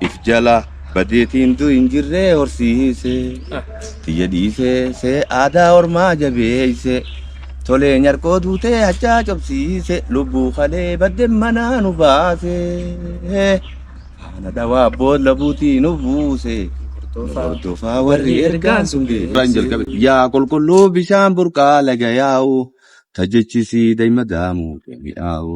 If jala badeetiin du hin jirree horsiise tiyya dhiisee see aadaa ormaa jabeeyse tolee nyarkoo duutee hachaa cobsiise lubbuu kalee badde manaa nu baase faana dhawaa bood labuutii nu buuse nu hordofaa warri ergaan sun geesse yaa qulqulluu bishaan burqaa laga yaa'u tajechisi daima daamuu mi'aawu.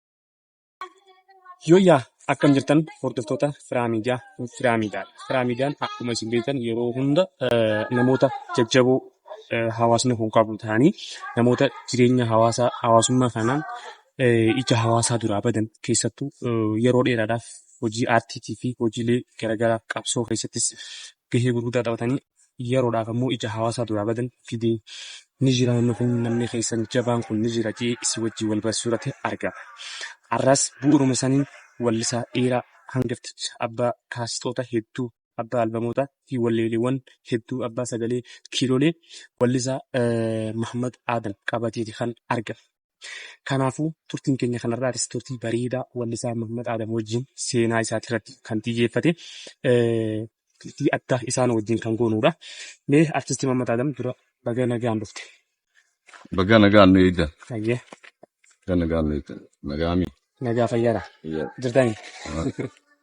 Yooyyaa akkam jirtan hordoftoota Firaa Miidiyaa Firaa Miidiyaa Firaa Miidiyaan akkuma isin beektan yeroo hunda eh, namoota jajjaboo eh, hawaasni kun qabu ta'anii namoota jireenya hawaasaa hawaasummaa kanaan eh, ija hawaasaa duraa badan keessattuu eh, yeroo dheeraadhaaf hojii aartiitii fi hojiilee garaagaraa qabsoo keessattis gahee gurguddaa taphatanii yeroodhaaf ammoo ija hawaasaa duraa badan fidee ni jira namni kun namni keessan jabaan kun ni jira jee isii wajjin wal barsiisuurratti argama. Har'aas bu'uruma saniin wallisaa dhiiraa hangafticha abbaa kaasixoota hedduu abbaa albamoota fi walleeleewwan hedduu abbaa sagalee kiilolee wallisaa Mahammad Aadam qabateeti kan argame. Kanaafuu turtiin keenya kanarraatis turtii bareedaa wallisaa Mahammad Aadam wajjin seenaa isaatirratti kan xiyyeeffate turtii addaa isaan wajjin kan goonuudha. Mee artisti Mahammad Aadam dura baga nagaan dhufte. Baga nagaan nu eegda. Hayyee Baga nagaan nu eegda. Nagaami. nagaa fayyaadha. Jirtanii?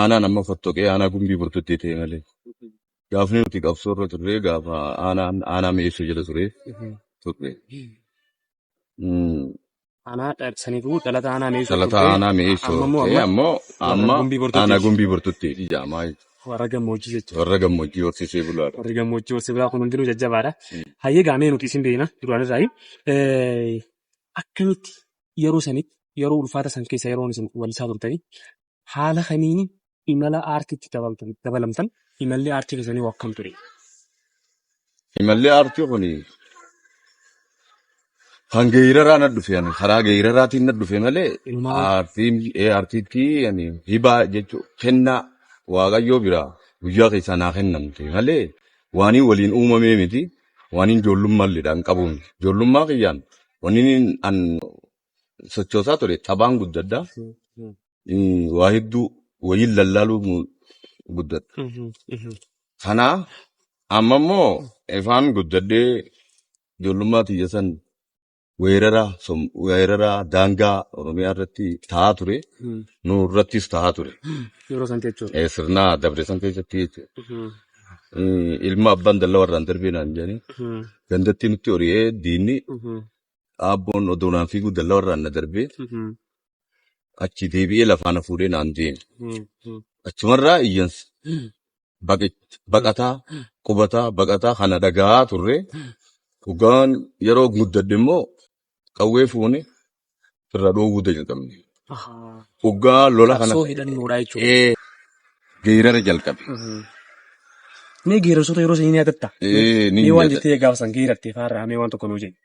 aanaan amma fottoqee aanaa gumbii burtutti ta'e malee gaafni nuti qabsoo irra turre gaafa aanaan aanaa mi'eessuu jala ture turre. Mm, Aanaa dha- saniifuu dhalata aanaa mi'eessoo Dhalata turte. aanaa mi'eessoo Amma immoo ta'e amma ammoo warra amma gumbii aanaa bortottiiti. gumbii burtutti jaamaa Warra gammoojjii jechuudha. warra gammoojjii horsiisee bulaadha. Warri gammoojjii horsee bulaa kun hundinuu jajjabaadha. Mm. Hayyee gaamee nuti isin beekna duraan irraa. Akkamitti yeroo sanitti yeroo ulfaata san keessa yeroo isin walisaa turtanii haala kamiin imala aartiitti dabaltan- dabalamtan? Imalli aartii keessanii hoo akkam ture? Imalli aartii kun kan geeraraa na dhufe ani karaa geeraraatiin na dhufe malee Inumaa aartiin ee aartiitti ani hibaa jechuun kennaa waaqayyoo biraa guyyaa keessaa naa kennamte malee waaniin waliin uumamee miti waaniin ijoollummaa illee dhaan qabu miti ijoollummaa kiyyaan waaniin an sochoosaa ture taphaan guddadha. Mm, Waa hedduu waliin lallaaluu mu- guddadha. Kana amma immoo ifaan guddadhee ijoollummaa tiyya san weerara som- weerara daangaa Oromiyaa irratti ta'aa ture. Nu irrattis ta'aa ture. Yeroo san jechuudha. Eh, Sirna dabre san keessatti jechuudha. Mm, Ilma abbaan dallaa warraan darbee naan jedhanii gandattii nutti hori'ee diinni dhaabboon odoo naan fiiguu dallaa irraan na darbee achi deebi'ee lafaa na fuudhee naan deeme. Achumarraa iyyansa baqit- baqataa qubataa baqataa kana dhaga'aa turre dhugaan yeroo guddadhe immoo qawwee fuune irra dhoowwuu jalqabne. Hoggaa lola kana Qabsoo hidhannoodhaa jechuudha. ee, geerara jalqabe. Mee geerarsoota yeroo sanii ni yaadatta? Ee, ni Mee waan yaadadha. jettee gaafa san geeratte faarraa mee waan tokko nuu jedhi.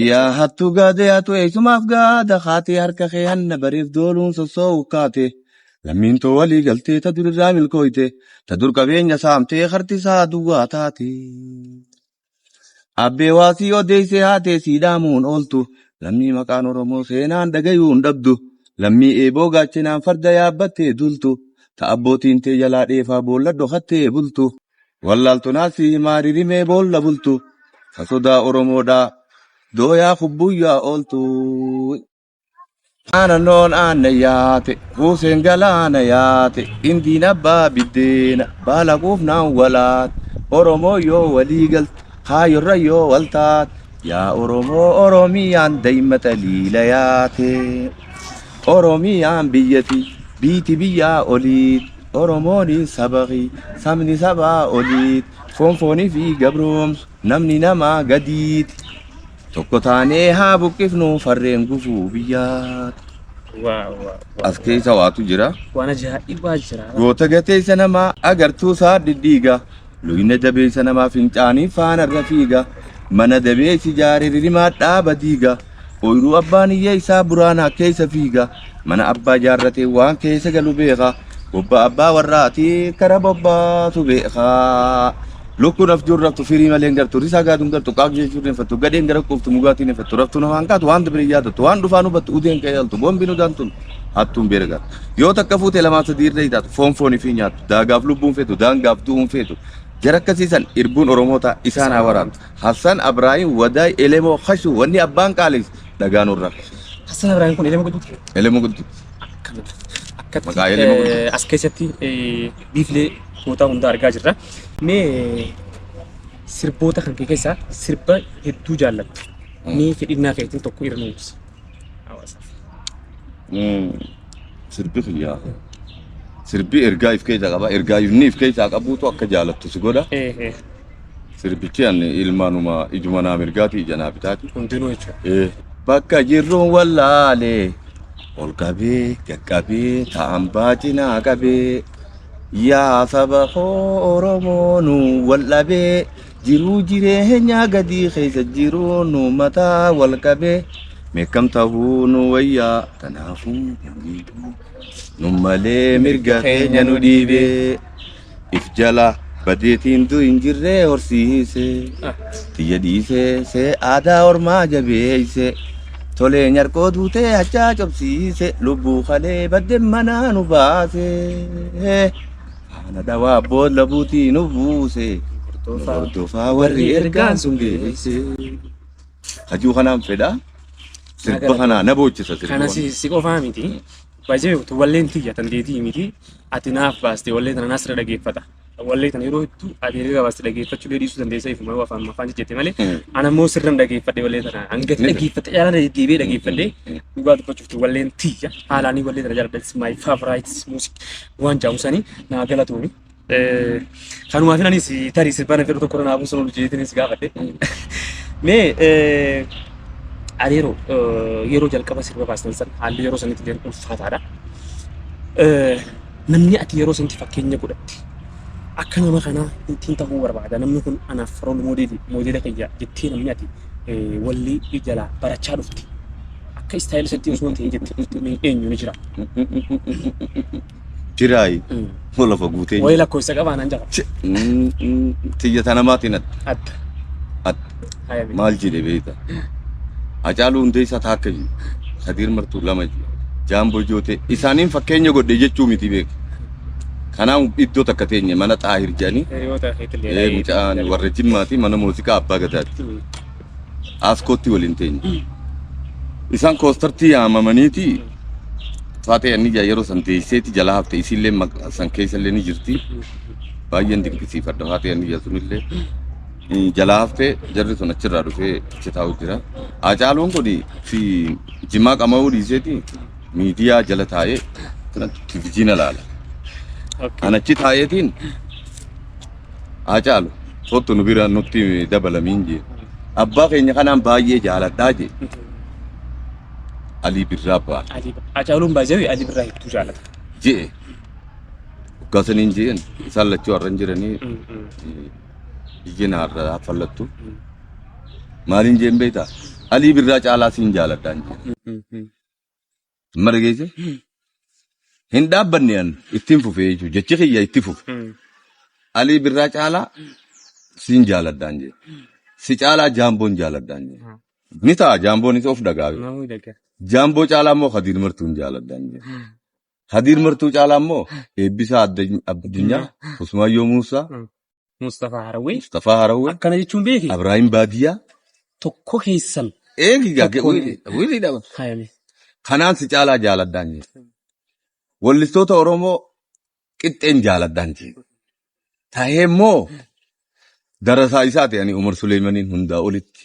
Yaa hattu gaade hattu eessumaaf gaada kaatee harka kee hanna bariif dooluun sossoo'u kaate. Lammiin too walii galtee ta durirraa milkooyte ta dur qabeenya saamtee harti isaa duwwaa taate. Abbee waa sii odeessee haatee sii dhaamuun ooltu. Lammii maqaan Oromoo seenaan dhagayuun dhabdu. Lammii eeboo gaachenaan farda yaabbattee duultu. Ta abbootiin tee jalaa dheefaa boolla dhokattee bultu. Wallaaltu naa sii himaa ririmee boolla bultu. Ta sodaa Oromoodhaa dooyaa kubbuyyaa ooltu. Aanannoon aanna yaate, kuuseen galaana yaate, indiin abbaa biddeena, baala quufnaan walaate. Oromoo yoo walii galte, kaayyorra yoo wal taate, yaa Oromoo Oromiyaan daa'imma xaliila yaate. Oromiyaan biyyati, biiti biyyaa oliit, Oromooni sabaqi, sabni sabaa oliit, foon foonii fi gabroomsu, namni namaa gadiiti. Tokko taanee haa buqqifnu farreen gufuu biyyaa. Waaw waaw. As keessa waatu jira. Waan ajaa'ibaa jira. Goota gateessa namaa agartuu isaa diddiiga. Luyna dabeessa namaa fincaanii faana irra fiiga. Mana dabeessi jaare ririmaa dhaaba diiga. Ooyiruu abbaan iyya isaa buraanaa keessa fiiga. Mana abbaa jaarratee waan keessa galu beeka. Bobba abbaa warraati kara bobbaatu beeka. Lukkuun afjuun raftu firii malee hin gartu. Risaa gaaduun gartu qaaq jechuun hin fattu. Gadheen gara quuftu mugaatiin hin fattu. Raftuun afaan kaatu waan dabire hin yaadattu. Waan dhufaan hubattu udeen ka'ee altu. Boombiin udaan tun hattuun beera gaatu. Yoo takka fuute lamaan sadii irra hitaatu. Foon foonii fi nyaattu. Daagaaf lubbuun feetu. Daangaaf du'uun feetu. Jara akkasii san irbuun Oromootaa isaan haa waraantu. Hassan Abrahim Waday Elemo Hashu Wani Abban Qalis Dhagaa Nurra. Hassan Abrahim kun Elemo Guduti. Elemo Guduti. Akkatti Maqaa Elemo Guduti. as keessatti biiflee gootaa hundaa argaa jirra. Mee sirboota kan kee keessaa sirba hedduu jaallattu. Mee fedhinnaa keetiin tokko irra nuuf ibsi. Hawaasaaf. Sirbi kiyyaa. Sirbi ergaa if keessaa qaba. Ergaa inni if keessaa qabuutu akka jaalattu si godha. Eh, eh. Sirbichi ani ilmaanuma ijuma naa mirgaati ija naa bitaati. Hundinuu jechuudha. Ee. Bakka jirruun wallaalee ol qabee gad qabee ta'an baacinaa qabee yaa saba koo Oromoo nu wal dhabee jiruu jireenyaa gadii keessa jiruu nu mataa wal qabee meekkam ta'uu nu wayyaa kanaafuu nu miidhuu nu malee mirga keenya nu dhiibee. If jala badeetiin du hin jirree horsiise. Tiyya dhiisee see aadaa ormaa jabeeyse. Tolee nyarkoo duutee hachaa cobsiise. Lubbuu kalee badde manaa nu baase. Haana dhawaa bood labuutii nu buuse. Nu hordofaa warri ergaan sun geesse. Hajuu kanaan fedha. Sirba kanaa na boochisa sirba Kana kana. si, si qofaa miti. Baay'ee utuu walleen tiyya dandeetii miti. ati naaf baaste wallee tana nasra dhageeffata. Wallee tana yeroo hedduu ati erga baaste dhageeffachuu dee dhiisuu dandeessa ifuma yoo afaan afaan jette malee ana immoo sirran dhageeffadhe wallee tana hanga Ni- dhageeffadhe yaalan deebi'ee dhageeffadhe dhugaa dubbachuuf tu walleen tiyya haalaanii wallee tana jaalladha it's my favorite music waan jaamu sanii naa galatooni. Eh, Kanumaafin anis tarii sirbaan fedhu tokko irra buusan ol jeetinis gaafadhe. Mee eh, areeroo eh, yeroo jalqaba sirba baastan san haalli yeroo sanitti illee ulfaataadha. Eh, Namni ati yeroo sanatti fakkeenya godhatte akka nama kanaa ittiin ta'uu barbaada. Namni kun anaaf rool moodeelii moodeela kiyya jettee namni ati eh, walli jalaa barachaa dhufte akka istaayilii isatti osoo hin ta'in jettee dhufte mee eenyu ni jira? Diraayi. Mm. Moo lafa guutee Wayii nyaata. lakkoofsa qabaa naan jala. Ch- mm, mm, Tiyya tana maatiin atta. Atta. Atta. Haya bee. Maal jedhe beekta? Hacaaluu Hundeessaa taakka jiru. Kadiir Martuu lama jiru. Jaamboo Jootee isaaniin fakkeenya godhe jechuu miti beeka. Kanaan iddoo takka teenye mana Xaahir jedhanii Hiriyoota keetillee. ee, mucaan warra Jimmaati mana muuziqaa abbaa gadaati. Mm. Aaskootti waliin teenye. Isaan koostartii yaamamaniiti Faaxee Anniyyaa yeroo san teesseeti jala hafte isiillee maqa- san keessallee ni jirti. Baay'een dinqisiifadha Faaxee Anniyyaa sunillee. Mm, Jala hafte jarri sun achirraa dhufee achi taa'u jira. Haacaaluun kun fi jimaa qama'uu dhiiseeti miidiyaa jala taa'ee kana televizyiina laala. An achi taa'eetiin haa caalu kottu nu bira nutti dabalamiin jee abbaa keenya kanaan baay'ee jaaladhaa jee alii birraa abbaa Hacaaluun baay'ee Alii Birraa hedduu jaalata. jee hoggaasaniin jeen isaan lachuu har'a hin jiranii biyyeen har'a haffallattu maaliin jeen beektaa alii birraa caalaa siin jaaladhaan jee Amma dhageesse? Hin dhaabbanne an ittiin fufee jechuudha. Jechi kiyya itti fufe. Alii birraa caalaa siin jaaladhaan jee. Si caalaa jaamboon jaaladhaan jee. Ni ta'a jaamboonis of dagaaga. Namuu dagaa. Jaamboo caalaa immoo Hadiir Martuun jaaladhaan jee. Hadiir Martuu caalaa immoo eebbisaa Addany- addunyaa Usmaayyoo Muusaa Mustafaa Harawwee Mustafaa Harawwee akkana jechuun beeki Abraahim Baadiyyaa tokko keessan eegi gaage Tokko- wiilii wiilii dhaba hayame kanaan si caalaa jaaladhaan jiru wallistoota Oromoo qixxeen jaaladhaan jiru tahee immoo darasaa isaati ani Umar Suleeymaniin hundaa olitti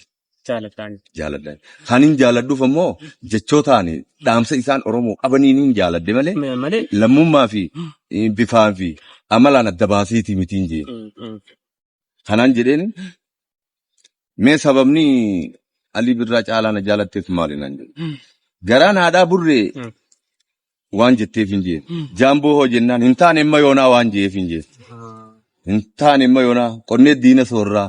jaaladhaan. jaaladha. Kanin jaaladhuuf ammoo jechootaan dhaamsa isaan Oromoo qabaniin jaaladhe malee Ma- Malee. lammummaa fi eh, bifaa fi amalaan adda baaseeti mitiin jee. Mm, mm. Kanaan jedheen mee sababni Alii Birraa caalaa na jaalatteef maali naan jedhe. Mm. Garaan haadhaa burree Mm. waan jetteef hin jee. Mm. Jaamboo hoo jennaan hin taane imma yoonaa waan jeef hin jee. Ah. Hin taane imma yoonaa qonnee diina soorraa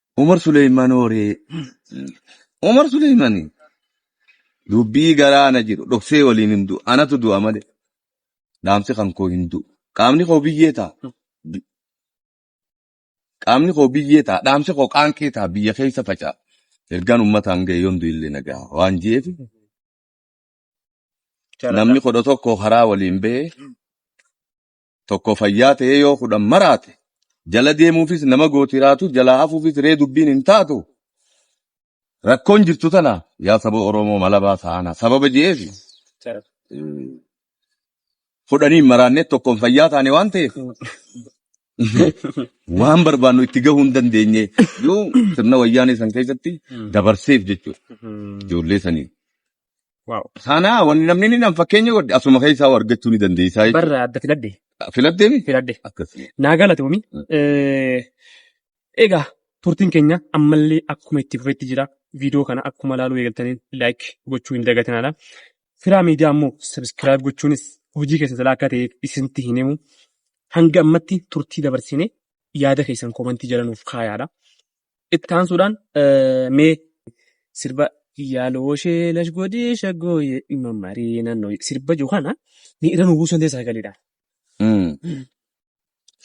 Umar Suleeyman horee. Umar Suleeymani dubbii garaa na jiru dhoksee waliin hin du'u. Anatu du'a malee dhaamsi kan koo hin du'u. Qaamni koo biyyee ta'a. Bi- Qaamni koo biyyee ta'a. Dhaamsi koo qaanqee ta'a. Biyya keessa faca'a. Ergaan uummataan ga'e yoon du'illee na ga'a. Waan jeef namni kudha tokko karaa waliin ba'e tokko fayyaa ta'ee yoo kudhan maraate jala deemuufis nama gootiraatu jalaa hafuufis ree dubbiin hin taatu rakkoon jirtu tana yaa saba oromoo malabaa ta'ana sababa je'eef kudhaniin maraannee tokkoon fayyaa taane waan ta'eef waan barbaannu itti gahuu hin dandeenye yoo sirna wayyaanee san keessatti dabarseef jechuudha ijoollee sanii Waaw. Sanaa wanni namni inni nam fakkeenya godhe asuma keessaa waa argachuu ni dandeessaa jechuudha. Barra adda filadhe. Filatteemi? Filadhe. Akkas. Naa galatoomi. Mm. Eh, Egaa turtiin keenya ammallee akkuma itti fufetti jira. Viidiyoo kana akkuma ilaaluu eegaltaniin like gochuu hin dagatinaadha. Firaa miidiyaa ammoo subscribe gochuunis hojii keessa jalaa akka ta'eef isintti hin himu. Hanga ammatti turtii dabarsine yaada keessan komantii jala nuuf kaayaadha. Itti aansuudhaan mee sirba yaaloo ishee lash godhii shaggooyee dhimma marii naannoo sirba jiru kana ni irra nu buusan ta'e sagaleedhaan. Mm.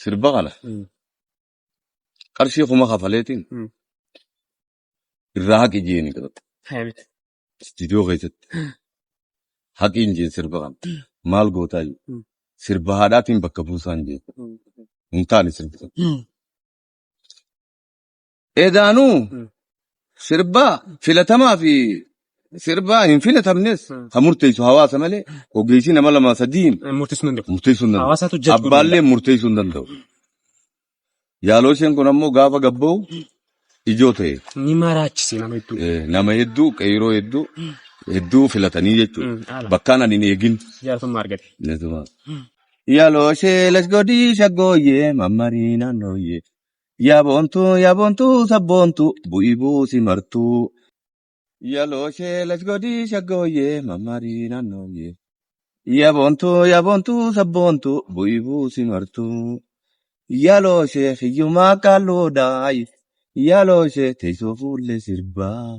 Sirba kana Mm. qarshii kuma kafaleetiin Mm. irraa haqi jeeni qabata. Haamit. Istiidiyoo keessatti haqiin jeen sirba kana maal gootaa jiru. Mm. Sirba haadhaatiin bakka buusaan jeen. Hin taane sirbi kun. Edaanuu sirbaa filatamaa fi sirbaa hin filatamnes kan murteessu hawaasa malee ogeessi nama lama sadiin Murteessuu danda'u. murteessuu hin Hawaasaatu danda'u. judge godhuu Abbaallee murteessuu hin danda'u. Yaaloo isheen kun ammoo gaafa gabba'u ijoo ta'e. Ni maraachise nama hedduu. Eh, Nama hedduu, qeeroo hedduu, hedduu filatanii jechuudha. Mm, haala. Bakkaan ani hin eegin. Jaalatama argate. Netuma. Yaloo ishee lasgodii shaggooyyee mammarii naannooyyee. Yaa boontuu yaa boontuu sabboontuu bu'ii buusi martuu. Yalooshee lashgodii shaggooyyee mammarii naannooyyee. Yaa boontuu yaa boontuu sabboontuu bu'ii buusi martuu. Yalooshee hiyyumaa qaalluudhaay. Yalooshee teessoo fuullee sirbaa.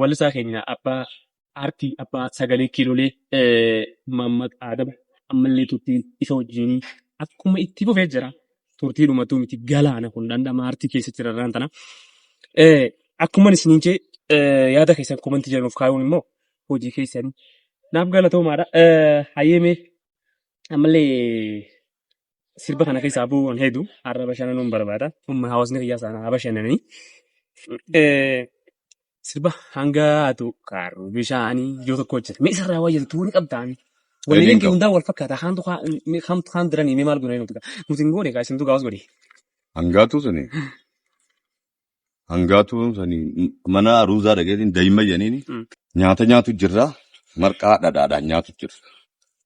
Wallisaa keenya abbaa aartii abbaa sagalee kiilolee Maammad Aadam ammallee turtiin isa wajjin akkuma itti fufee jira. Turtii dhumatuu miti galaana kun dhandhama aartii keessa jirarraan tana. Akkuma isiniin jee yaada keessan komantii jedhan of kaayuun immoo hojii keessanii naaf galatoomaadha. Hayyeemee ammallee sirba kana keessaa bu'uun hedduu har'a bashananuun barbaada. Humna hawaasni kiyyaa sana haa bashanananii. Eh, Sirba hanga haatu kaaruu bishaanii yoo tokko hojjete. Mee isarraa waa jettu ni qabdaami. Waliin Waliin kee qabu. hundaa wal fakkaata. Haantu haa- mee haamtu haan diranii mee maal godhanii nuti gaa. Nuti hin goone gaa isintu gaafas godhe. Hangaatu suni. Hangaatuun sani mana aruuzaa dhageetiin daa'imman jedhaniini Mm. nyaata nyaatu jirra marqaa dhadhaadhaan nyaatu jirra.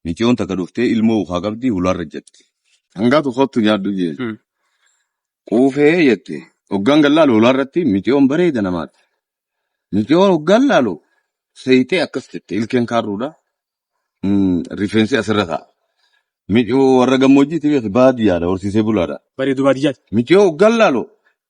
Miciyoon takka dhuftee ilmoo ukaa qabdi hulaarra jetti. Hangaatu kottu nyaadhu jee. Mm. Quufee jette. Hoggaan gallaalu hulaarratti miciyoon bareeda namaati. Miciyoon hoggaan laalu seeyitee akkas jette ilkeen kaarruudha. Mm, Rifeensi asirra ta'a. Miciyoo warra gammoojjiiti beekte baadiyyaadha horsiisee bulaadha. Bareedu baadiyyaati. Miciyoo hoggaan laalu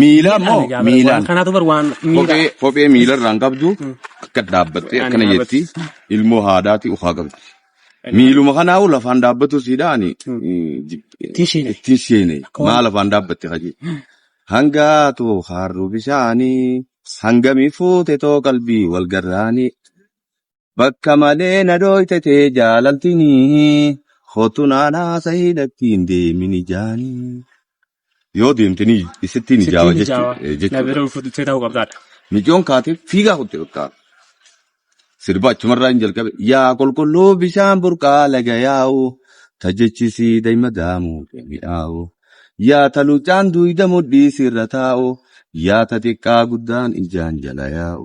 Miilaa Miidhaan moo egaa bara waan miilaan kanaatu bar waan miidhaa. kophee kophee miilarraan qabdu Mm. akka dhaabbattee Ani akkana dhaabatti. jetti ilmoo haadhaati ukaa qabdi. Miiluma kanaa'u lafaan dhaabbatuu siidha ani Mm. eh, jib- Ittiin sheene. ittiin sheene Akka waan- maa lafaan dhaabbatte kaje. Hangaatu haarruu bishaanii hangamii fuute too qalbii wal garraanii Bakka malee na dhooyte tee jaalaltini. Kottu naan haasahii natti hin deemin ijaani. Yoo deemte ni isitti ni jaawa Sittiin jechuu- ijaawa. eh, Na jechuudha. bira ulfututee ta'uu qabdaadha. Micoon kaatee fiigaa kutte bakka. Sirba achumarraa hin jalqabe. Yaa qulqulluu bishaan burqaa laga yaa'u. Ta jechisii daa'ima daamuu mi'aawu. Yaa ta luuccaan duuyda mudhii sirra taa'u. Yaa ta xiqqaa guddaan ijaan jala yaa'u.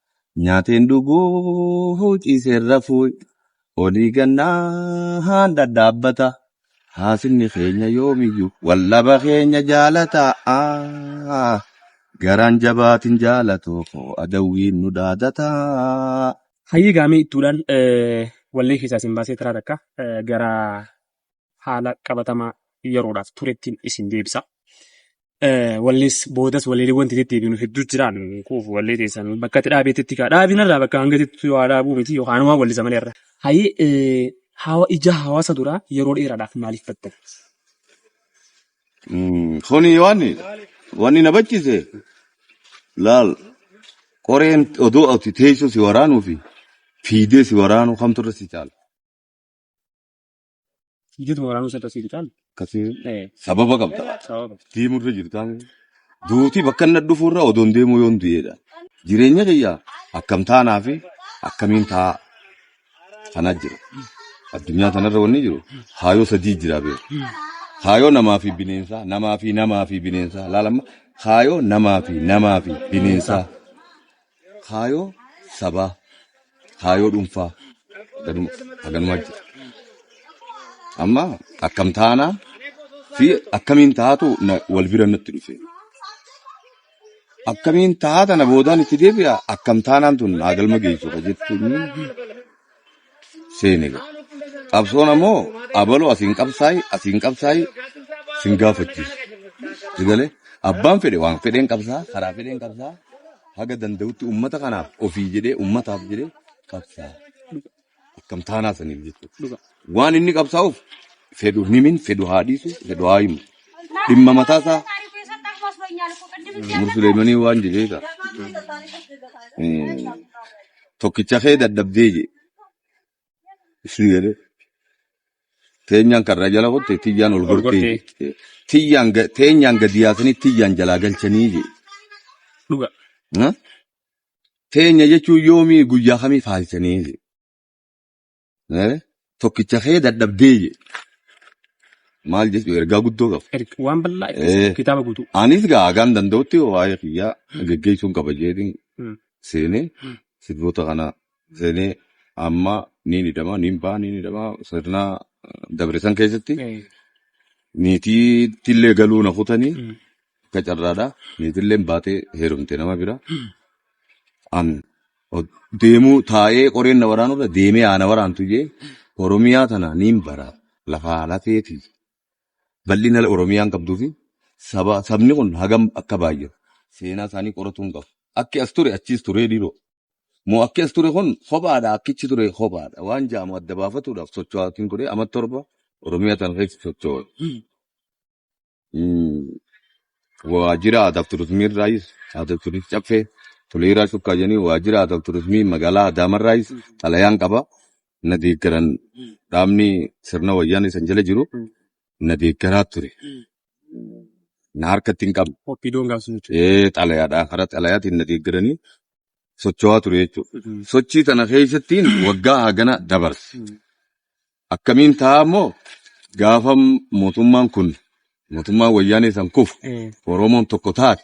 Nyaateen dhuguu ciiseen rafuu olii gannaan dhadhaabbata. Haasifni keenya yoomiyyuu waldhaba keenya jaalata. Garaan jabaatin jaalatu koo adawwiin nu dhaadata. Hayyee gaamee ittuudhaan wallee keessaa isin baasee taraa takka gara haala qabatamaa yeroodhaaf turettiin isin deebisa. Wallees boodas walleelee wanti deddeebiinu hedduu jiraan kuuf wallee teessan bakka itti dhaabeetti kaa dhaabinarraa bakka hanga jettu waa dhaabuu miti yookaan waan wallisa malee irra. Hayii hawa ija hawaasa duraa yeroo dheeraadhaaf maaliif battan? Kuni waan wanni na bachise laal qoreen odoo ati teessoo si waraanuu fi fiidee si waraanuu kamtu irra si caala. Jitu waraanuu sadda sii bitaan. Akkasii Eh, sababa qabda. sababa. Deemurra jirtaan. Duuti bakka inni dhufuurra odoon deemuu yoon du'eedha. Jireenya kiyya akkam taanaa fi akkamiin taa'aa kanaa jira. Addunyaa kanarra wanni jiru haayoo sadii jira beeku. Haayoo namaa fi bineensaa, namaa fi namaa fi bineensaa. Laalamma haayoo namaa fi namaa fi bineensaa. Kaayoo sabaa, kaayoo dhuunfaa ganuma haganumaa jira. Amma akkam taanaa fi akkamiin taatu na- wal bira natti dhufe. Akkamiin taata na boodaan itti deebi'a akkam taanaan tun naa galma geessu ka jettu seene ga. Qabsoon ammoo abaloo asiin qabsaayi asiin qabsaayi sin gaafachiisu. Sigalee abbaan fedhe waan fedheen qabsaa karaa fedheen qabsaa haga danda'utti ummata kanaaf ofii jedhee ummataaf jedhee qabsaa akkam taanaa saniif jechuudha. Waan inni qabsaa'uuf fedhu himin fedhu haa dhiisu fedhu haa himu. Dhimma mataa isaa Umar Suleemanii waan jedhee ta'a. tokkicha kee dadhabdee jee isin jedhee teenyaan karraa jala qotte tiyyaan ol gortee jee tiyyaan ga- teenyaan gadi yaasanii tiyyaan jalaa galchanii jee dhuga Ha? teenya jechuun yoomii guyyaa kamii faalchanii jee Eh, Tokkicha kee dadhabdee je. Maal jechuudha ergaa guddoo qaba. Erga- Waan bal'aa itti Eh. kitaaba guutuu. Anis gaa hagaan danda'utti waa'ee kiyyaa geggeessuun qaba jeetiin Mm. seenee Mm. sirboota kana seenee amma ni hidhama ni ba'a ni hidhama sirna dabarsan keessatti Eh, niitiitti illee galuu na kutanii Mm. Akka carraadha. Niitilleen baatee heerumte nama bira. An o- deemuu taa'ee qoreen na waraanurra deemee aana waraantu jee Oromiyaa tana niin bara lafaa lafeeti. Bal'ina Oromiyaan qabduu fi saba, sabni kun hagam akka baay'atu seenaa isaanii qoratuu hin qabu. Akki as ture achiis turee dhiiroo. Moo akki as ture kun kophaadha akkichi ture kophaadha. Waan jaamu adda baafatuudhaaf socho'aatiin ture amma torba Oromiyaa tana keessa socho'u. Mm, Waajjira aadaa fi turizimii irraayis aadaa fi turizimii caffee toleeraa shukkaa jedhanii waajjira aadaa fi turizimii magaalaa Adaamaa irraayis xalayaan qaba. Na deeggaran dhaabni sirna wayyaanee san jala jiru na deeggaraa ture. Na harkatti hin qabne. Oppiidoon gaafsuu jechuudha. Ee xalayaadhaan karaa xalayaatiin na deeggaranii socho'aa ture jechuudha. Sochii tana keessattiin waggaa hagana dabarse. Akkamiin ta'a immoo gaafa mootummaan kun mootummaan wayyaanee san kufu Oromoon tokko taate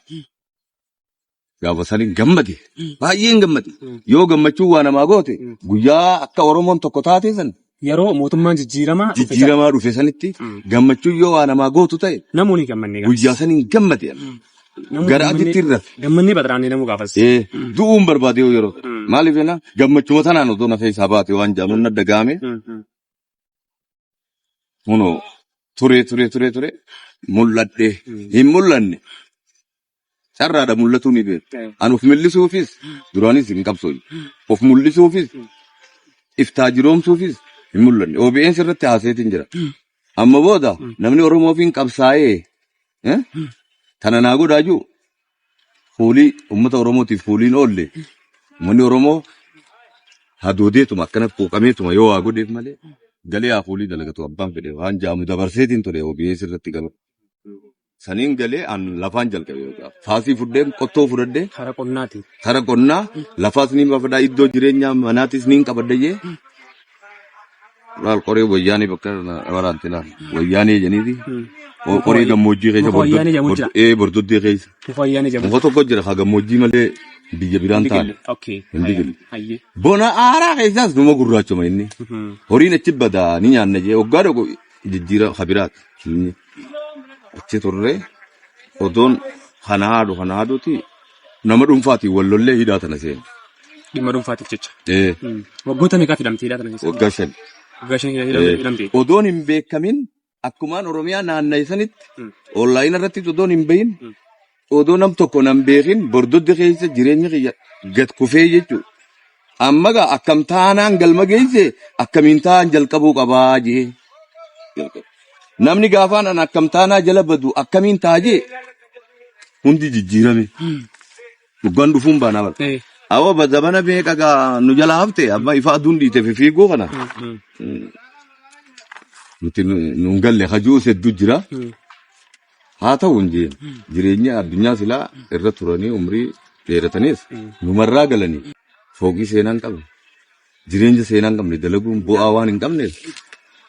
gaafa saniin gammade baay'een gammade yoo gammachuu waa namaa goote guyyaa akka Oromoon tokko taate san Yeroo mootummaan jijjiiramaa dhufe sana Jijjiiramaa dhufe sanitti Mm. gammachuun yoo waa namaa gootu ta'e namuu ni gammanne gaafas. guyyaa san hin gammade. Namuu gara gammannee- aditti hin rafe. Gammannee baxaraannee namuu gaafas. Eh, du'uun barbaade yoo yeroo ta'e. Mm. Maaliif jenna gammachuma tanaan otoo na keessaa baate waan jaamuun na dagaame Mm, mm. kunoo turee turee turee turee mul'adhe hin mul'anne carraadha mul'atuu ni beeku. An of mil'isuufis duraanis hin qabsoofne. Of mul'isuufis iftaa jiroomsuufis hin mul'anne. OBN irratti haaseetiin jira. Amma booda namni Oromoo ofiin qabsaa'ee eh, tana naa godhaa jiru fuulii uummata Oromootiif fuuliin oolle uummanni Oromoo hadoodeetuma akkana quuqameetuma yoo waa godheef malee galee haa fuulii dalagatu abbaan fedhe waan jaamu dabarseetiin ture OBS irratti gaba. Saniin galee an lafaan jalqabe beekaa. Faasii fudheen qottoo fudhadhee Kara qonnaati. kara qonnaa lafaas ni bafadhaa iddoo jireenyaa manaatis ni qabadha jee laal qoree wayyaanee bakka waraanti laal wayyaanee jeniiti Hmm. qoree gammoojjii keessa Muka wayyaanee jedhamu jira. ee bordoddee keessa Muka wayyaanee jedhamu. muka tokko jira ka gammoojjii malee biyya biraan taane Okay. Hin digille. Hayyee. bona aaraa keessaas numa gurraachoma inni Mhm. horiin achi badaa ni nyaanna jee waggaa tokko jijjiira kabiraati. Inni achi turre odoon kana haadhu kana haadhuti nama dhuunfaatiin wal lollee hidhaa tana seenu. Dhimma dhuunfaatiif jecha. Ee, Mm. Waggoota meeqaaf hidhamte hidhaa tana keessa? Waggaa shan. Waggaa shan hidha- hidha- hidhamte. Odoon hin beekamin akkumaan Oromiyaa naanna'e sanitti Mm. onlaayina irratti odoon hin bahin odoo nam tokko nan beekin bordodde keessa jireenyi kiyya gad kufee jechuudha. Amma gaa akkam taanaan galma geesse akkamiin taa'an jalqabuu qabaa jee jalqabe. Namni gaafaan an akkam taanaa jala badu akkamiin ta'a jee hundi jijjiirame. Dhugaan dhufuun baanaa bara. Eh. Awwa ba zabana beeka gaa nu jala hafte amma ifa aduun dhiite fi fiiguu kana. Nuti nu- nuun galle hajuu hedduu jira. Haa ta'u hin jeen jireenya addunyaa silaa irra turanii umrii dheeratanis numarraa galanii fooqii seenaa hin qabne jireenya seenaa hin qabne dalaguun bu'aa waan hin qabneef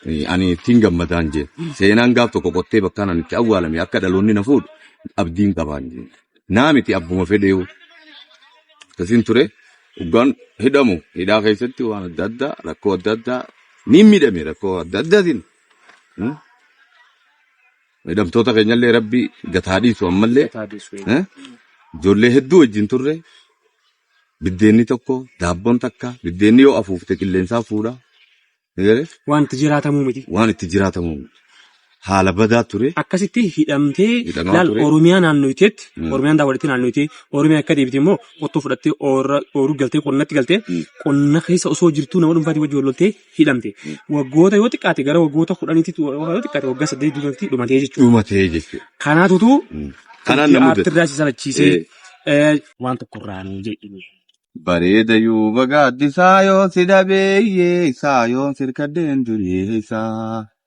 eh, ani ittiin gammadaa hin jeen seenaan gaaf tokko qottee bakkaan ani itti awwaalame akka dhaloonni na fuudhu abdiin qabaa hin jeen naa miti abbuma fedheewu akkasiin ture dhugaan hidhamu hidhaa keessatti waan adda addaa rakkoo adda addaa ni miidhame rakkoo adda addaatiin. hmm? Hidhamtoota keenyallee rabbi gad haa dhiisu ammallee Gataa deessu eh, eegaa. ijoollee hedduu wajjin turre biddeenni tokko daabboon takka biddeenni yoo afuufte qilleensaa fuudha. Ni galee? Wanti jiraatamuu miti. Waan itti jiraatamu haala badaa ture Akkasitti hidhamtee Hidhamaa laal ture. Oromiyaa naannoyteetti Mm. Oromiyaan daawwalitti naannoytee Oromiyaa akka deebite immoo qottoo fudhattee oorra- ooruu galtee qonnatti galtee Mm. qonna keessa osoo jirtuu nama dhuunfaatii wajjin wal loltee hidhamte. Waggoota yoo xiqqaate gara waggoota kudhaniitti yoo xiqqaate waggaa saddeet duratti dhumatee jechuudha. Dhumatee jechuudha. Kanaatutu Kanaan na mudate. irraa si salachiisee eh, waan tokko irraa nu jedhini. Bareeda yoo bagaaddi saayoon si dhabeeyye saayoon sirkaddeen dureessa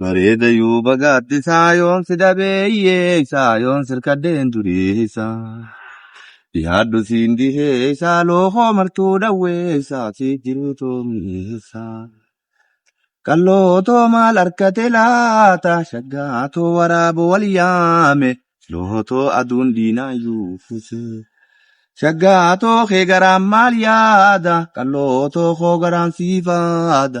Bareeda yoo bagaatti isaa yoon si dhabeeyyee isaa yoon sirkadheen duree isaa. Yaaddu siin dihee isaa lookoo martuu dhawwee isaa si jiruu toomii isaa. Qalloo too maal harkate laata shaggaa too waraaba wal yaame loo too aduun diinaa yuufuse. Shaggaa too kee garaan maal yaada qalloo too koo garaan siifaada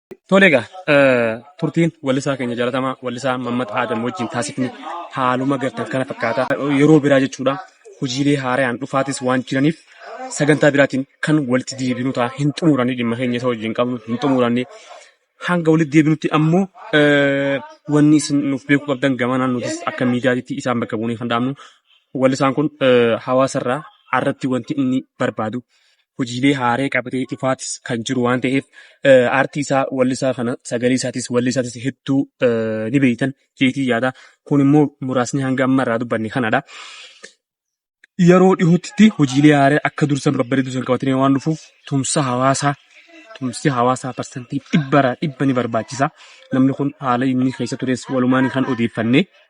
Tole egaa turtiin wallisaa keenya jalatamaa wallisaa Mammad Aadam wajjin taasifni haaluma gartan kana fakkaata. Yeroo biraa jechuudha hojiilee haarayaan dhufaatis waan jiraniif sagantaa biraatiin kan walitti deebinu ta'a hin xumuranne dhimma keenya isa wajjin qabnu hin xumuranne. Hanga walitti deebinutti ammoo wanni isin nuuf beekuu qabdan gamanaan nutis akka miidiyaatti isaan bakka buunee kan dhaabnu wallisaan kun hawaasarraa irratti wanti inni barbaadu hojiilee haaree qabatee dhufaatis kan jiru waan ta'eef aartii isaa wallisaa kana sagalee isaatis wallisaatis hedduu ni beektan jeetii yaada. Kun immoo muraasni hanga amma irraa dubbanne kanadha. Yeroo dhihootti hojiilee haaree akka dursan babbareedu san qabatanii waan dhufuuf tumsa hawaasaa tumsi hawaasaa parsantii dhibbaraa dhibba ni barbaachisa. Namni kun haala inni keessa tures walumaan kan odeeffannee